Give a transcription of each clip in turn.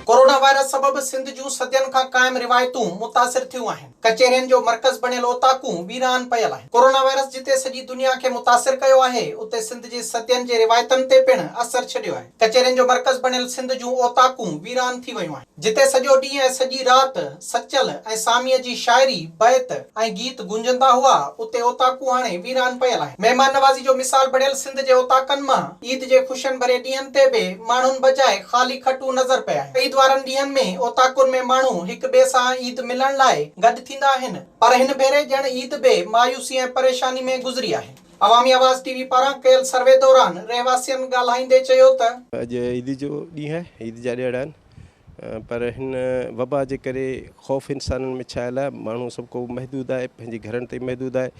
Corona virus سبب سنڌ جون صدين کان قائم روايتون متاثر ٿيون آهن، ڪچهرين جو مرڪز بڻيل اوطاقون ويران پيل آهن، ڪورونا وائرس جتي سڄي دنيا کي متاثر ڪيو آهي اتي سنڌ جي صدين جي روايتن تي پڻ اثر ڇڏيو آهي، ڪچهرين جو مرڪز بڻيل سنڌ جون اوطاقون ويران ٿي ويون آهن. جتي سڄو ڏينهن ۽ سڄي رات سچل ۽ ساميء جي شاعري، بيت ۽ گيت گونجندا هئا، اتي اوطاقون هاڻي ويران پيل آهن. مهمان نوازي جو مثال بڻيل سنڌ جي اوطاقن مان عيد جي خوشين ڀري ڏينهن تي به ماڻهن بجاء خالي کٽون نظر پيا آهن. عيد وارن ڏينهن ۾ اوطاقن ۾ ماڻهو هڪ ٻئي سان عيد ملڻ لاء گڏ ٿيندا آهن، پر هن ڀيري ڄڻ عيد به مايوسي ۽ پريشاني ۾ گذري آهي. عوامي آواز ٽي وي پاران ڪيل سروي دوران رهواسين ڳالهائيندي چيو ته. اڄ عيد جو ڏينهن آهي، عيد جا ڏهاڙا آهن پر هن وبا جي ڪري خوف انسانن ۾ ڇانيل آهي، ماڻهو سڀ ڪو محدود آهي، پنهنجي گهرن تائين محدود آهي،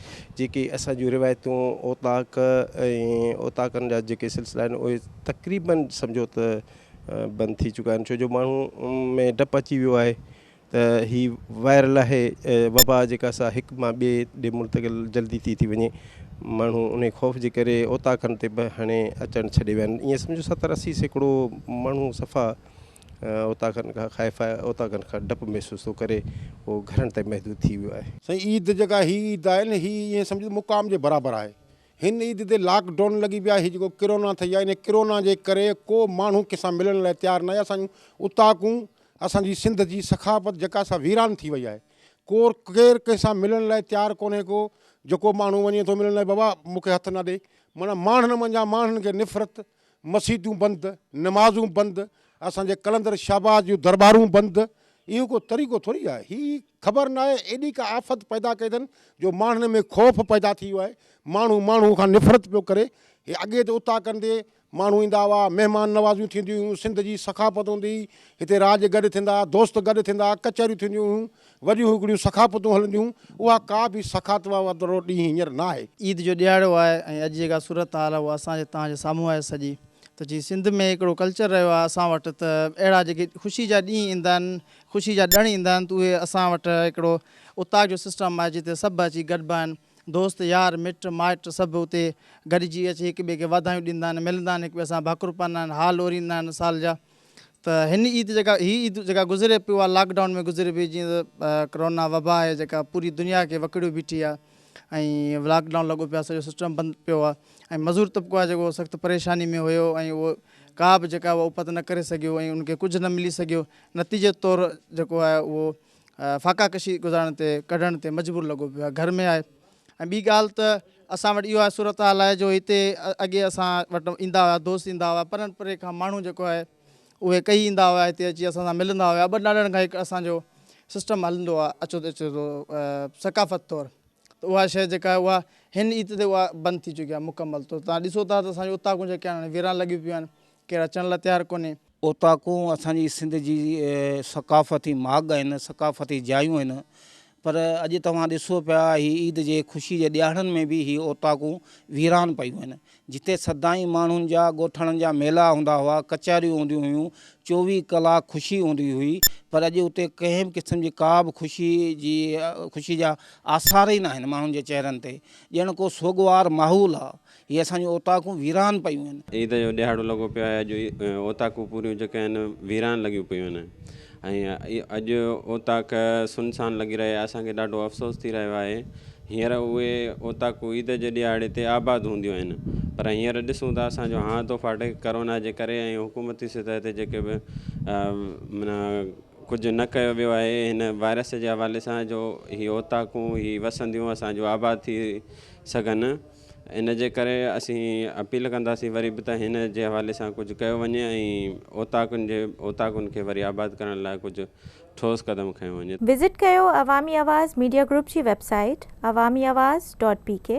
جيڪي اسان جون روايتون اوطاق ۽ اوطاقن جا جيڪي سلسلا آهن اهي تقريبن سمجهو ته بند ٿي چڪا آهن، ڇو جو ماڻهو ۾ ڊپ اچي ويو آهي، ته هي وائرل آهي وبا جيڪا سا هڪ مان ٻئي ڏي منتقل جلدي ٿي ٿي وڃي ماڻهو انهي خوف جي ڪري اوطاقن تي به هڻي اچڻ ڇڏي ويا آهن ائين سمجهو ستر اسي سيڪڙو ماڻهو صفا اوطاقن کان خائف آهي اوطاقن کان ڊپ محسوس ٿو ڪري هو گهرن تائين محدود ٿي ويو آهي. سائين عيد جيڪا هي عيد آهي نه هي ائين سمجهو مقام جي برابر آهي هن عيد تي لاڪ ڊون لڳي پيو آهي هي جيڪو ڪرونا ٿئي آهي انهي ڪرونا جي ڪري ڪو ماڻهو ڪنهن سان ملڻ لاء تيار ناهي اسان جون اوطاقون اسان جي سنڌ جي ثقافت جيڪا سا ويران ٿي وئي آهي ڪور ڪير ڪنهن سان ملڻ لاء تيار ڪونهي ڪو جيڪو ماڻهو وڃي ٿو ملڻ لاء بابا مون کي هٿ نه ڏي معنيٰ ماڻهن منجهان ماڻهن کي نفرت مسيتون بند نمازون بند اسان جي قلندر شهباز جون درٻارون بند اهو ڪو طريقو ٿوري آهي هي خبر نه آهي ايڏي ڪا آفت پيدا ڪئي اٿن جو ماڻهن ۾ خوف پيدا ٿي ويو آهي ماڻهو ماڻهو کان نفرت پيو ڪري هي اڳي ته اتاڪن تي ماڻهو ايندا هئا، مهمان نوازيون ٿينديون هيون، سنڌ جي ثقافت هوندي هئي، هتي راڄ گڏ ٿيندا، دوست گڏ ٿيندا، ڪچهريون ٿينديون هيون، وڏيون هڪڙيون ثقافتون هلنديون، اها ڪا به ثقافت وارو ڏينهن هينئر ناهي. عيد جو ڏيهاڙو آهي ۽ اڄ جيڪا صورت حال آهي اها اسان جي توهان جي سامهون آهي سڄي ته جي سنڌ ۾ هڪڙو ڪلچر رهيو آهي اسان وٽ ته اهڙا جيڪي خوشي جا ڏينهن ايندا آهن خوشي جا ڏڻ ايندا آهن ته اهي اسان وٽ هڪڙو اتاق جو سسٽم آهي جتي سڀ اچي گڏبا آهن دوست يار مٽ مائٽ سڀ اتي گڏجي اچي هڪ ٻئي کي واڌايون ڏيندا آهن ملندا آهن هڪ ٻئي سان ڀاڪر پائيندا آهن حال اوريندا آهن سال جا ته هن عيد جيڪا هي عيد جيڪا گذري پئي اها لاڪ ڊائون ۾ گذري پئي جيئن ته ڪرونا وبا آهي جيڪا پوري دنيا کي وڪڙيو بيٺي آهي ۽ لاڪ ڊائون لڳو پيو آهي سڄو سسٽم بند پيو آهي ۽ مزور طبقو آهي جيڪو سخت پريشاني ۾ هيو ۽ اهو ڪا به جيڪا اها اپت نه ڪري سگهيو ۽ ان کي ڪجهه نه ملي سگهيو نتيجي طور جيڪو آهي اهو فاقا ڪشي گذارڻ تي ڪڍڻ تي مجبور لڳو پيو آهي گهر ۾ آهي ۽ ٻي ڳالهه ته اسان وٽ اهو آهي صورت حال آهي جو هتي اڳي اسان وٽ ايندا هئا دوست ايندا هئا پرن پري کان ماڻهو جيڪو آهي اهي ڪهي ايندا هئا هتي اچي اسان سان ملندا هيا ٻه ڏاڙهن کان هڪ اسان جو سسٽم هلندو آهي اچو ته اچو ٿو ثقافت طور ته اها شيء جيڪا آهي اها هن عيد تي اها بند ٿي چڪي آهي مڪمل طور تان ڏسو ٿا ته اسان جون اوطاقون جيڪي آهن ويران لڳيون پيون آهن ڪير اچڻ لا تيار ڪونهي. اوطاقون اسان جي سنڌ جي ثقافتي ماڳ آهن، ثقافتي جايون آهن پر اڄ توهان ڏسو پيا هي عيد جي خوشي جي ڏيهاڙن ۾ به هي اوطاقون ويران پيون آهن. جتي سدائين ماڻهن جا ڳوٺاڻن جا ميلا هوندا هئا، ڪچهريون هونديون هيون، چوويهه ڪلاڪ خوشي هوندي هئي پر اڄ اتي ڪنهن به قسم جي ڪا به خوشي جي خوشي جا آثار ئي ناهن ماڻهن جي چهرن تي ڄڻ ڪو سوڳوار ماحول آهي هي اسان جون اوطاقون ويران پيون آهن. عيد جو ڏيهاڙو لڳو پيو آهي اڄ اوطاقون پوريون جيڪي آهن ويران لڳيون پيون آهن ۽ اڄ اوطاق سنسان لڳي رهي آهي اسان کي ڏاڍو افسوس ٿي رهيو آهي هينئر اهي اوطاقون عيد جي ڏيهاڙي تي آباد هونديون آهن پر هينئر ڏسون ته اسان جو هانء ٿو ڦاٽي ڪرونا جي ڪري ۽ حڪومتي سطح تي جيڪي به معنيٰ ڪجهه نه ڪيو ويو آهي هن وائرس جي حوالي سان جو هي اوطاقون هي وسنديون اسان جون آباد ٿي سگهن ان جي ڪري اسين اپيل ڪنداسين وري به ته هن جي حوالي سان ڪجهه ڪيو وڃي ۽ اوطاقن جي اوطاقن کي وري آباد ڪرڻ لاء ڪجهه ٺوس قدم کنيو وڃي. وزٽ ڪيو عوامي آواز ميڊيا گروپ جي website Awami Awaz dot P ڪي.